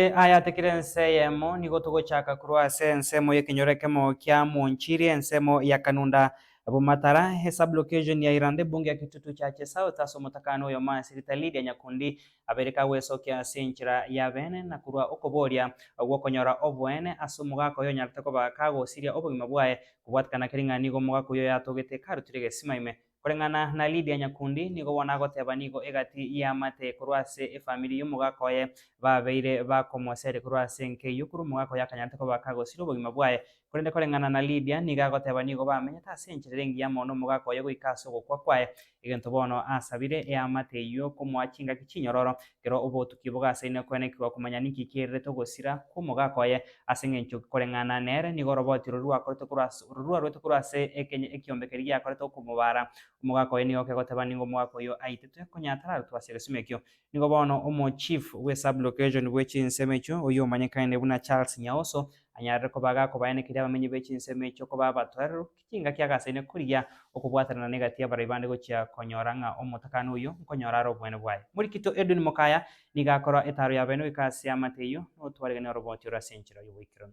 Ase aya tekiri ense eyemo, nigo togochaka korwa ase ensemo y'ekenyoro ekemo kia Mwonchiri, ensemo ya Kanunda, Bumatara, e Sub-location ya Iranda, ebunge ya Kitutu Church South, ase omotakano oy'omoasirita Lydia Nyakundi, aberika gwesokia ase enchera y'abeene na korwa okoboria gw'okonyora oboene ase omogaka oyo onyarete koba kagosiria obogima bwaye, kobwatikana kere ng'a nigo omogaka oyio oyatogete karutire egesima ime. Koreng'ana na Lidia nyakundi, nigo bono agoteba nigo egati y'amate korwa ase efamiri y'omogaka oye babeire bakomoseria korwa ase enka eyio, korwa omogaka oye akanyarete koba kagosira obogima bwaye. Korende koreng'ana na Lidia, nigo agoteba nigo bamenyete ase enchera ere engiya mono n'omogaka oye goika ase ogokwa kwaye, egento bono asabire eamate eyio komoa chingaki chinyororo, Ekero obotuki bogasainire koenekigwa komanya ninki kiairerete ogosira kw'omogaka oye, ase engencho koreng'ana nere nigo oroboti rori rwakorete korwa ase rori rwarwete korwa ase ekeny ekiombe keria giakorete okomobara, omogaka oye nigo okegoteba ningo omogaka oyio aitetwe, konya atararutwe ase egesimo ekio. Nigo bono omochief bwe sub-location bwe chinsemo echio, oyio omanyekaine buna Charles Nyaoso, anyarire koba agakobaenekeria abamenyi be chinsemo echio koba abatwereru, Ekengaki agasaini koria okobwatanana negati y'abarai bande gochia konyora ng'a omotakano oyio nkonyora are obwene bwaye. Morikito Edwin Mokaya nigo akorwa etaaro y'abaene goika ase amate eyio na otwarigania oroboti ore ase enchera y'oboikeranu.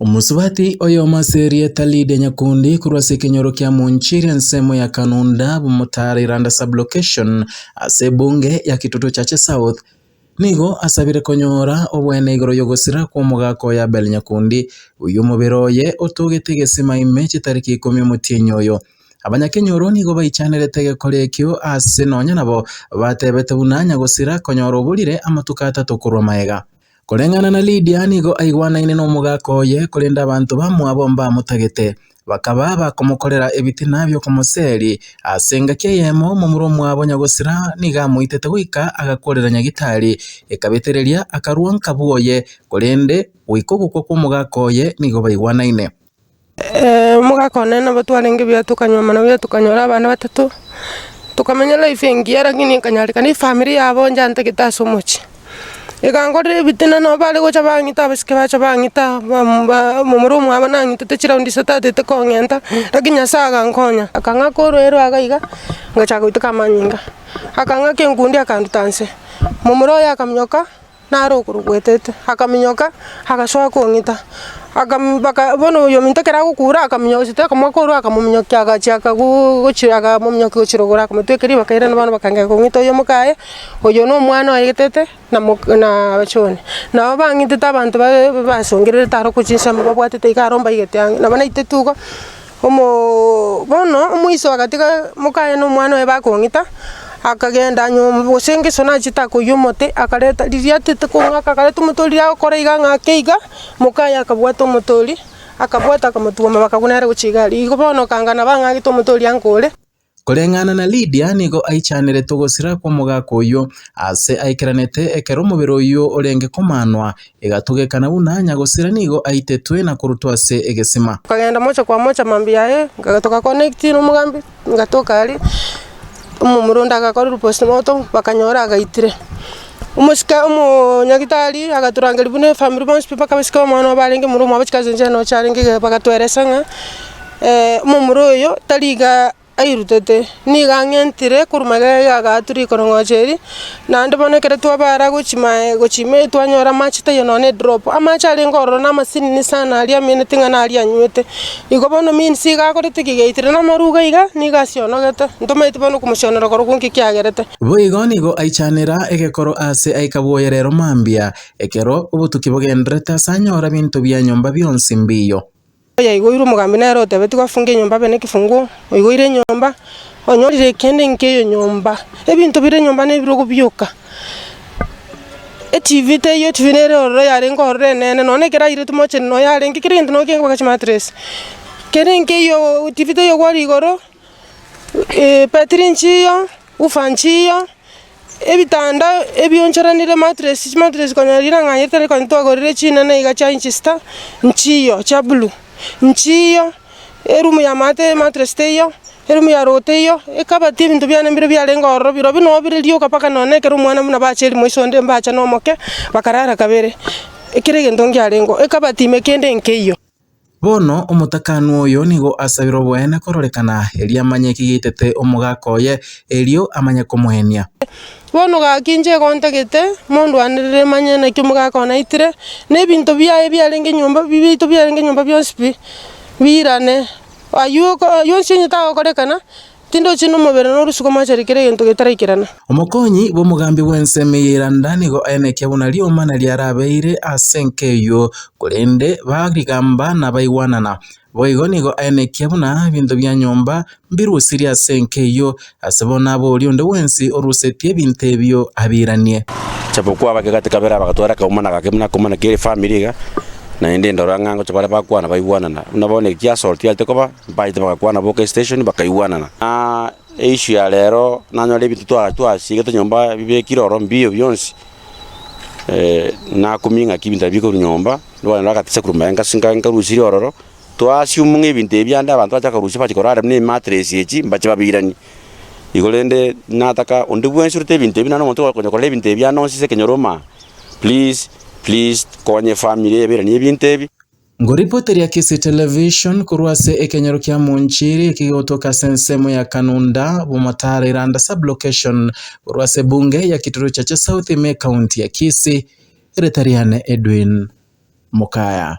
Omosubati oyomo ase erieta Lydia Nyakundi korwa ase ekenyoro kia Munchiri ensemo ya Kanunda, Bumutare Iranda Sub-Location, ase ebunge ya Kitutu Chache South, Nigo asabire konyora obwene igoro y'ogosira kw'omogaka oye Abel Nyakundi, oyio omobere oye otogete egesima ime chitariki ikomi omotienyi oyo. Abanyakenyoro nigo baichanerete egekori ekio aase nonya nabo batebete buna nyagosira konyora oborire amatuko atato korwa magega. Koreng'ana na Lidia nigo aigwanaine nomogaka oye, korende abanto bamwabo mbamotagete. Bakaba bakomokorera ebitina bi'okomoseeri. Ase engaki eyemo omomura omwabo nyagosira nigo amoitete goika agakorera nyagitari, ekabetereria akarua nka bw'oye, korende goika ogokwa kw'omogaka oye nigo baigwanaine. Omogaka one nabo twarenge buya tokanywa amano buya tokanyora abana batato, tokamenya life engiya, lakini ekanyarekana efamiri yabo nchantagete ase omochie. Iga nkorire ebitina, nabo bare gocha bang'ita, abasike bacha bang'ita, bam- ba- momura omwabo nang'itete chiraundi isato atete kong'enta, lakini Nyasae agankonya, akang'aka orwaire rwa iga iga, ngachaka goiteka amanyinga, akang'aka enkundi akanduta nse, momura oye akaminyoka nare okoro gwetete, akaminyoka agasoa kong'ita, akam baka bono oyo ominto ekero agokura akaminyoka gose takamoaka ororo akamominyokia agachiaka go- gochi akamominyokia gochirogora akamotweka ribaka erinde bono bakagenda kong'ita oyomo kaye. Oyo nomwana oye getete na abachore, nabo bang'etete abanto ba- ba- basongererete aro korwa chinsemo babwatete iga aro mbaigete ang'e, nabo naitete igo omoo bono omoiso agatiga mokaye na omwana oye bakong'ita, akagenda nyomba gose ngeso nachete akoiyia omote, akareta riria atete kong'aka akareta omote oria riria agokora iga ang'ake iga, mokaye akabwata omote oria, akabwata akamotwoma bakagwa nere gochia iga aria. Igo bono okanga nabo ang'agete omote oria ankore. Koreng'ana na Lidia nigo aichanerete ogosira kw'omogaka oyio, aase aikeranete ekero omobere oyio orenge komanwa, egatogekana buna nyagosira nigo aitetwe na korutwa ase egesima. Nkagenda mocha kwa mocha mambia yaye, toga connect nomogambi, ngatoka aria, omomura onde agakorerwa postmortem, bakanyora agaitire. Omosike omonyagitari agaturangeria buna efamiri bonsi pi mpaka bosike omwana obo arenge omoro omwabo chikae chianchera nocha arenge iga bagatoeresa ng'a omomura oyo tari iga airutete, nigo ang'entire korwa magega iga agaaatua rikorong'ocha eri, naende bono ekero twabara gochia maye gochia ime twanyora amache taiyo nonye na edrop, amache arenge ororo na amasinini sana aria amenete ng'a naria anywete. Igo bono minsi iga akorete kigeitirana amaruga iga, nigo asionogete, ntomaeti bono komosionora korokwo nki kiagerete. Boigo nigo aichanera egekoro aase aika bwoye reero mambia, ekero obotuki bogendererete aase anyora binto bia nyomba bionsi mbiiyo. Oyaigoirwe omogambi nere otebetigwe afunge enyomba abe nekifungo, oigoire enyomba, onyorire kende nkeyo nyomba, ebinto bire nyomba nebirogo bioka. ETV teiyo etv nere ororo yarenge ororo enene nonya ekero aire timoche no yarenge kera egento nonya kegokora chimatress kere nkeiyo etv teiyo kware igoro ebetiri nchiya woofer nchiya ebitanda ebionchorenire matress chimatress konya ring'ana ritari konya twagorire chinene iga chia inch sita nchiyo chia blue nchiyo. Erumu y'amato y'ematres teiyo, erumu ya rogo teiyo, ekabatia ebinto biane mbire biarenge ororo, birobio nabo bire rioka mpaka nonya na ekero omwana buna bacha erimo iso onde mbacha na omoke, bakarara kabere, ekero egento ngiarengeo, ekabatimia kende nkeiyo. Bono omotakanu oyo nigo asabire oboene kororekana, erio amanye ekigaitete omogaka oye, erio amanye komoenia. Bono gaki inche igo ntagete, mondwanerere manye naki omogaka one aitire, na ebinto biaye biarenge nyomba biaito biarenge nyomba bionsi pi, biirane, aywo oywo onsi onye tagokorekana, tindochi na omobere na orosiko moachere kera egento getaraikerana. Omokonyi bw'omogambi bw'ensemo eye randa nigo aenekia buna rioma naria arabeire ase enka eyio, korende ba rigamba nabaigwanana, boigo nigo aenekia buna ebinto bia nyomba Mbirusiri ase enka eyio, ase bono abe oria onde bwensi orusetie ebinto ebio abiranie. Chapokuo abake gati kabere bagatwara akaomana gake buna akomana kere efamiri iga, naende ndora ng'a ngocha bare bakwana baigwanana. Buna bono eki assault yarete koba, baete bagakwana boka esiteshoni bakaigwanana. Aa eissue ya rero nanyore ebinto twa twasiigete nyomba bibekire oro mbiyo bionsi, nakumia ng'aki ebinto ebio bikorwa nyomba, nabana bagatesa korwa mayenga ase nka nkarusirie ororo, Toassume ng'a ebinto ebi ande abanto bache bakarusia bache korara buna ematress echi mbache babiranie. Igo rende nataka onde bwensi orete ebinto ebi naende omonto okonya korora ebinto ebi ande onsi ase ekenyoro oma please please konya efamiri eye eberanie ebinto ebi. Ngoripota ria Kisii Television korwa ase ekenyoro kia Munchiri ekegotoka ase ensemo ya Kanunda, Bumotaro Iranda Sub-location korwa ase Bunge ya Kituruchache South ime County ya Kisii. Ereta riane Edwin Mukaya.